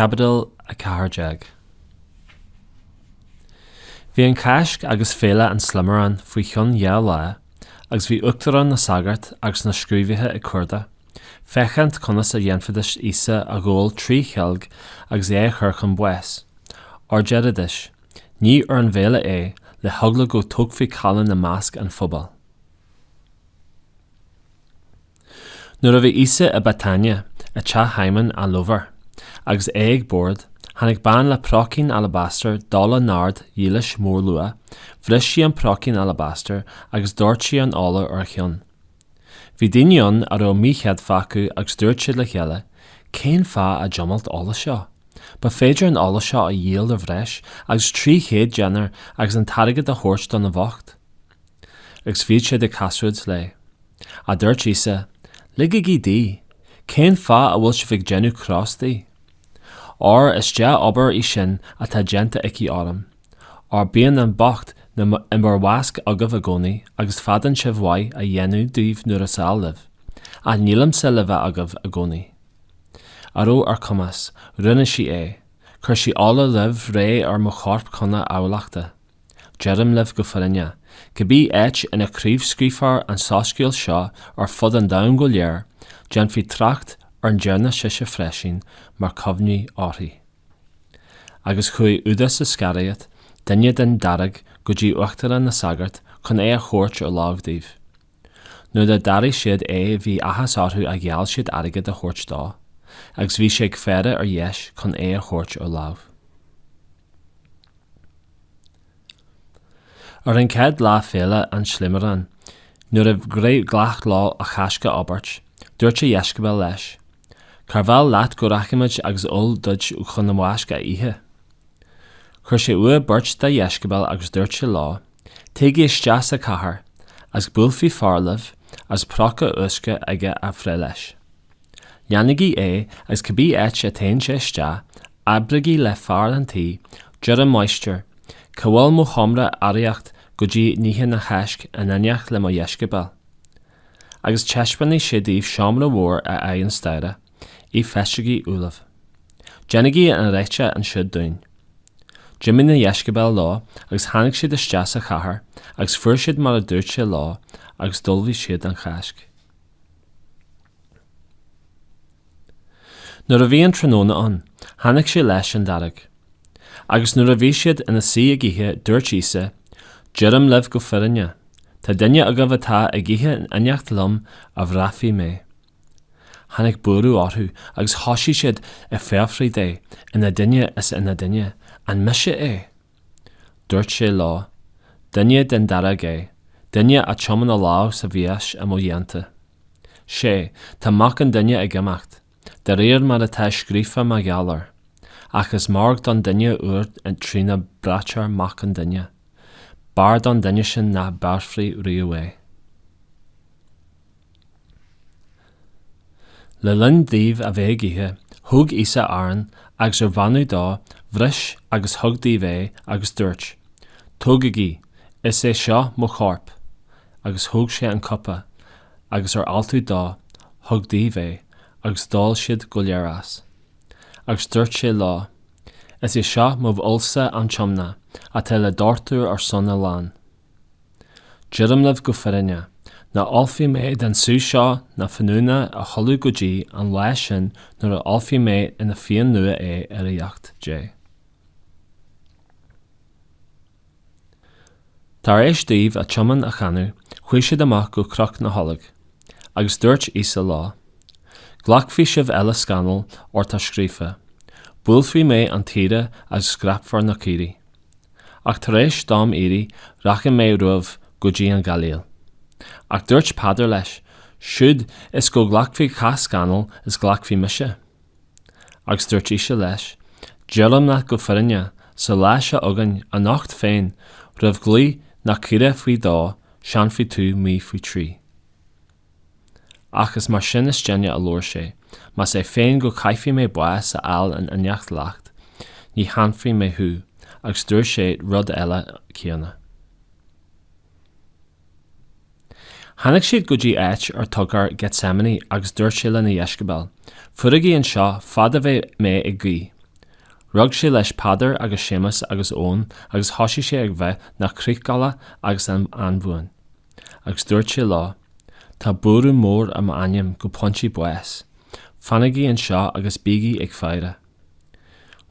Caibidil 14 Bhí an Cháisc agus Féile an tSlimaráin faoi cheann dhá lá agus bhí uachtaráin na sagart agus na scríobhaithe ag cuardach, féachaint conas a dhéanfaidís Íosa a ghabháil trí cheilg agus é a chur chun báis. Óir deiridís, ní ar an bhféile é, le heagla go dtógfaí callán i measc an phobail. Nuair a bhí Íosa i Béatáine, i dteach Shíomóin an lobhar, agus é ag bord, tháinig bean le próicín alabastair d'ola naird dhílis mhórluaigh, bhris sí an próicín alabastair agus dhoirt sí an ola ar a cheann. Bhí daoine ann a raibh míchéadfa acu agus dúirt siad le chéile, 'Cén fáth an diomailt ola seo? Ba féidir an ola seo a dhíol ar bhreis agus trí chéad déanar agus an t-airgead a thabhairt do na bhocht. Agus bhí siad ag casaoid léi. Ach dúirt Íosa, Ligigí di! Cén fáth a bhfuil sibh ag déanamh cros di? Óir is dea-obair í sin atá déanta aici orm. Óir bíonn an bocht na i mbur mheasc agaibh i gcónaí agus féadann sibh mhaith a dhéanamh dóibh nuair is áil libh, ach nílimse le bheith agaibh i gcónaí. A raibh ar a cumas, rinne sí é, chuir sí ola roimh ré ar mo chorp chun a adhlactha. Deirim libh go fírinneach, cibé áit ina craobhscaoilfear an soiscéal seo ar fud an domhain go léir, déanfaí trácht ar a ndearna sise freisín mar cuimhne uirthi. Agus chuaigh Iúdás Isceiriót, duine den dáréag, go dtí uachtaráin na sagart chun é a thabhairt ar láimh dóibh. Nuair a d'airigh siad é bhí áthas orthu a gheall siad airgead a thabhairt dó, agus bhí sé ag faire ar dheis chun é a thabhairt ar láimh. Ar an gcéad lá Féile an tSlimaráin, nuair ba ghnách leo an Cháisc a íobairt, dúirt a dheisceabail leis, Cárb áil leat go rachaimid agus ull duit chun an Cháisc a ithe? Chuir sé uaidh beirt dá dheisceabail agus dúirt sé leo, Téigí isteach sa cathair agus buailfidh fear libh agus próca uisce aige á bhreith leis. Leanaigí é agus cibé áit a dtéann sé isteach, abraigí le fear an tí, 'Deir an máistir, cá bhfuil mo sheomra aíocht go dtí n-ithinn an Cháisc in éineacht le mo dheisceabail? agus taispeánfaidh sé daoibh seomra mhór ar aghaidh an staighre. é feistithe ullamh. Déanaigí an réiteach ansiúd dúinn. D'imigh na deisceabail leo agus tháinig siad isteach sa chathair agus fuair siad mar a dúirt sé leo agus d'ullmhaigh siad an Cháisc. Nuair a bhí an tráthnóna ann, tháinig sé leis an dáréag. Agus nuair a bhí siad ina suí ag ithe dúirt Íosa, Deirim libh go fírinne, tá duine agaibh atá ag ithe in eineacht liom a bhraithfidh mé. Tháinig buaireamh orthu agus thoisigh siad ag fiafraí de ina nduine is ina nduine, an mise é? Dúirt sé leo, Duine den dáréag é, duine a thumann a lámh sa mhias i mo theannta. Sea, tá Mac an Duine ag imeacht, de réir mar atá scríofa mar gheall air, ach is mairg don duine úd trína braitear Mac an Duine, b'fhearr don duine sin nach mbéarfaí riamh é. Le linn dóibh a bheith ag ithe, thóg Íosa arán agus ar bheannú dó, bhris agus thug dóibh é agus dúirt, 'Tógaigí, is é seo mo chorp. Agus thóg sé an cupa, agus ar altú dó, thug dóibh é, agus d'ól siad go léir as. Agus dúirt sé leo, 'Is é seo mo fhuilse an tiomna atá le doirteadh ar son a lán. Deirim libh go fírinne, nach n-ólfaidh mé den sú seo na fíniúna a thuilleadh go dtí an lá sin nuair a ólfaidh mé ina fhíon nua é i Ríocht Dé. Tar éis dóibh an t-iomann a chanadh, chuaigh siad amach go Cnoc na nOlóg. Agus dúirt Íosa leo, Glacfaidh sibh uile scannal, óir tá scríofa, 'Buailfidh mé an t-aoire agus scaipfear na caoirigh. Ach tar éis dom éirí, rachaidh mé romhaibh go dtí an Ghailíl. Ach dúirt Peadar leis, Siúd is go nglacfaidh cách scannal is glacfaidh mise. Agus dúirt Íosa leis, Deirim leat go fírinne, sa lá seo againn anocht féin, roimh ghlao an choiligh faoi dhó, séanfaidh tú mé faoi thrí. Ach is mar sin is déine a labhair sé, más é féin go gcaithfidh mé bás a fháil in éineacht leat, ní shéanfaidh mé thú, agus dúirt sé rud eile céanna. Tháinig siad go dtí áit ar a dtugtar Gethsemane agus dúirt sé lena dheisceabail, Fuirigí anseo fad a bheidh mé ag guí. Rug sé leis Peadar agus Séamas agus Eoin agus thosaigh sé ag bheith 'na critheagla agus 'na anbhuain. Agus dúirt sé leo, Tá buaireamh mór ar m'anam go pointí báis, fanaigí anseo agus bígí ag faire.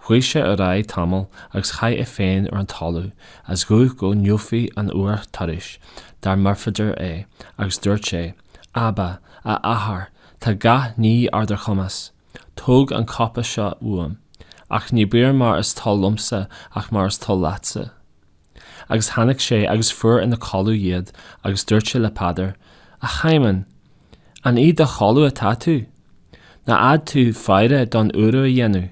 Chuaigh sé ar aghaidh tamall agus chaith é féin ar an talamh is ghuigh go ngabhfadh an uair thairis dá mb'fhéidir é agus dúirt sé, Abba, a Athair, tá gach ní ar do chumas, tóg an cupa seo uaim, ach ná bíodh mar is toil liomsa ach mar is toil leatsa. Agus tháinig sé agus fuair ina gcodladh iad agus dúirt sé le Peadar, A Shíomóin, an i do chodladh atá tú? Nár fhéad tú faire aon uaire a dhéanamh?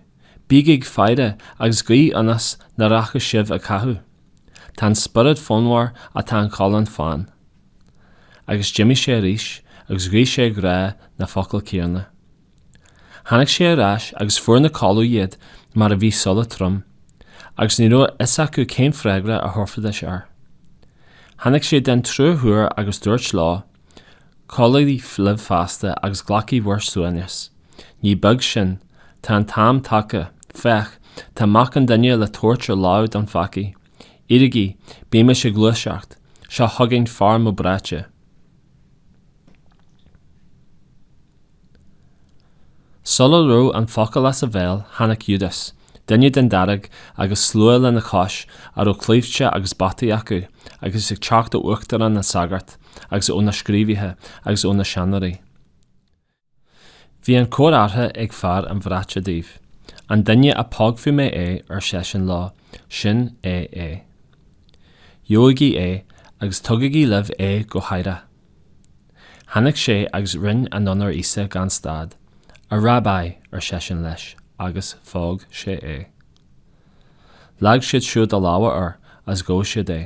Bígí ag faire agus ag guí ionas nach rachadh sibh i gcathú. Tá an spiorad fonnmhar ach tá an cholainn fann. Agus d'imigh sé arís agus ghuigh sé ag rá na focail céanna. Tháinig sé ar ais agus fuair ina gcodladh iad mar a bhí a súile trom, agus ní raibh a fhios acu cén freagra a thabharfaidís air. Tháinig sé den tríú huair agus dúirt leo, Codlaígí libh feasta agus glacaigí bhur suaimhneas. Ní beag sin. Tá an t-am tagtha. Féach, tá Mac an Duine le tabhairt ar láimh do pheacaigh. Éirígí, bímis ag gluaiseacht. Seo chugainn fear mo bhraite. Sula raibh an focal as a bhéal tháinig Iúdás, duine den Dáréag, agus slua lena chois a raibh claimhte agus bataí acu, agus ag teacht ó uachtaráin na sagart, agus ó na scríobhaithe, agus ó na seanóirí. Bhí an comhartha ag fear a bhraite dóibh. An duine a bpógfaidh mé é, ar seisean leo, sin é é. Gabhaigí é agus tugaigí libh é go haireach. Tháinig sé agus rinne anonn ar Íosa gan stad. A Rabbi, ar seisean leis, agus phóg sé é. Leag siad siúd a lámha air is ghabh siad é.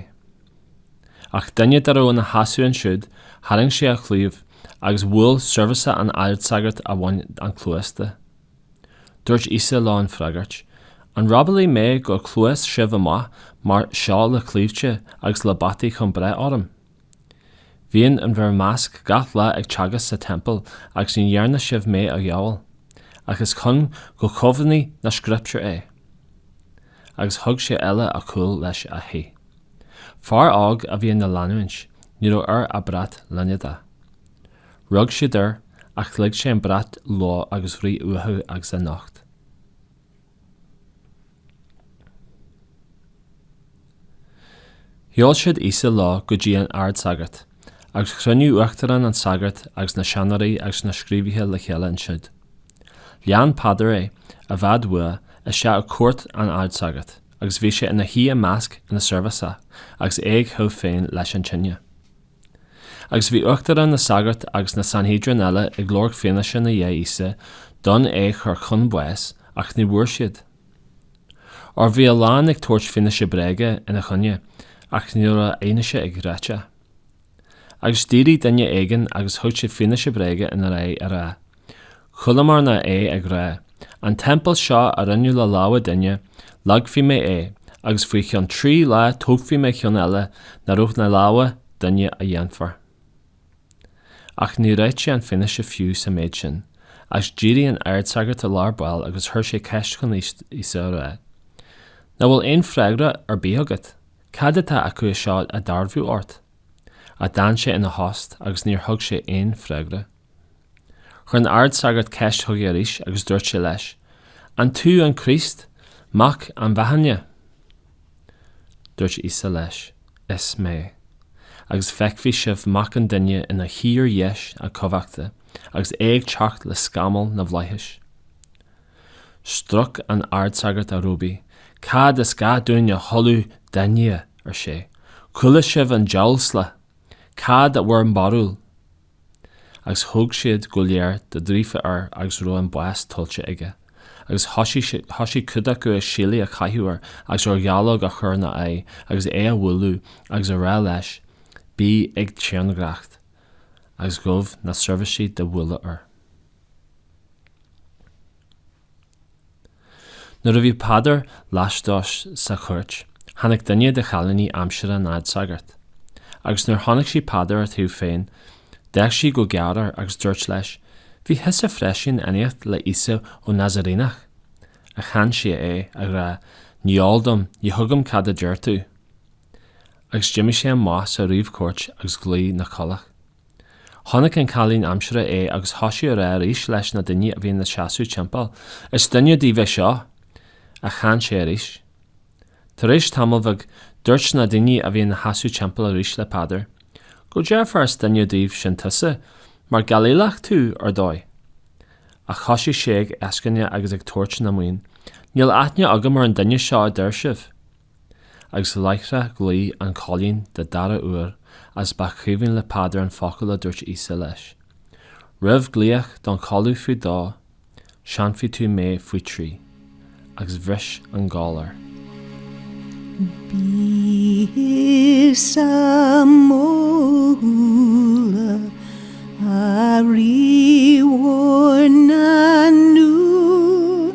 Ach duine dá raibh ina sheasamh ansiúd, tharraing sé a chlaíomh agus bhuail seirbhíseach an ardsagairt a bhain an chluas de. Dúirt Íosa leo á bhfreagairt, An robálaí mé gur ghluais sibh amach mar seo le claimhte agus le bataí chun breith orm? Bhínn in bhur measc gach lá ag teagasc sa Teampall agus ní dhearna sibh mé a ghabháil, ach is chun go gcomhlíonfaí na Scrioptúir é. Agus thug siad uile a gcúl leis is theith. Fear óg a bhí ina leanúint, ní raibh air ach brat línéadaigh. Rug siad air, ach lig sé an brat leo agus rith uathu agus é nocht. Sheol siad Íosa leo go dtí an ardsagart, agus chruinnigh uachtaráin na sagart agus na seanóirí agus na scríobhaithe le chéile ansiúd. Lean Peadar é, i bhfad uaidh, isteach i gcúirt an ardsagairt, agus bhí sé ina shuí i measc na seirbhíseach agus é á théamh féin leis an tine. Agus bhí uachtaráin na sagart agus na Sanhedrin eile ag lorg fianaise in aghaidh Íosa d'fhonn é chur chun báis, ach ní bhfuair siad. Óir bhí a lán ag tabhairt fianaise bréige ina choinne, ach ní raibh a fhianaise ag réiteach. Agus d'éirigh duine éigin agus thug sé fianaise bréige ina aghaidh, á rá, Chualamarna é ag rá, An teampall seo a rinneadh le lámha duine, leagfaidh mé é, agus faoi cheann trí lá tógfaidh mé ceann eile ná raibh na lámha duine a dhéanfar. Ach níor réitigh sé an fianaise fiú sa méid sin, agus d'éirigh an ardsagart i lár baill agus chuir sé ceist chun Íosa á rá, Ná bhfuil aon freagra ar bith agat? Cad atá acu seo á dearbhú ort? Ach d'fhan sé ina thost agus níor thug sé aon freagra. Chuir an ardsagart ceist chuige arís agus dúirt sé leis, An tú an Críost, Mac an Bheannaithe? Dúirt Íosa leis, Is mé, agus feicfidh sibh Mac an Duine ina shuí ar dheis a cumhachta agus é ag teacht le scamaill na bhflaitheas. Stróic an ardsagart a róbaí, Cad is gá dúinn a thuilleadh d'fhinnéithe? ar sé. Chuala sibh an diamhasla, Cad é bhur mbarúil? agus thug siad go léir de dhaorbhreith air agus raibh an bás tuillte aige, agus thoisigh cuid acu a sheilí a chaitheamh air agus ar dhallóg a chur ina aghaidh agus é a bhualadh agus a rá leis, bí ag tairngreacht, agus ghabh na seirbhísigh de bhuillí air. Nuair a bhí Peadar laistíos sa chúirt, tháinig duine de chailíní aimsire an Ardsagairt, agus nuair chonaic sí Peadar á théamh féin, d'fhéach sí go géar air agus dúirt leis, Bhí thusa freisin in éineacht le Íosa an Nazairéanach! Ach shéan sé é, á rá, Ní heol dom, ní thuigim cad a deir tú! Agus d'imigh sé amach sa réamhchúirt agus ghlaoigh an coileach. Chonaic an cailín aimsire é agus thoisigh a rá arís leis na daoine a bhí ina seasamh timpeall, Is duine díobh é seo! Ach shéan sé arís. Tar éis tamaill bhig, dúirt na daoine a bhí ina seasamh timpeall arís le Peadar, Go dearfa is duine díobh sin tusa, mar Gailíleach tú, ar ndóigh! Ach thoisigh sé ag eascaine agus ag tabhairt na mionn, Níl aithne agam ar an duine seo a deir sibh! Agus láithreach ghlaoigh an coileach don dara uair agus ba chuimhin le Peadar an focal a dúirt Íosa leis, Roimh glaoch don choileach faoi dó, séanfaidh tú mé faoi trí. Agus bhris an gol air. Bí thusa mo shúile, a Rí mhór na ndúl,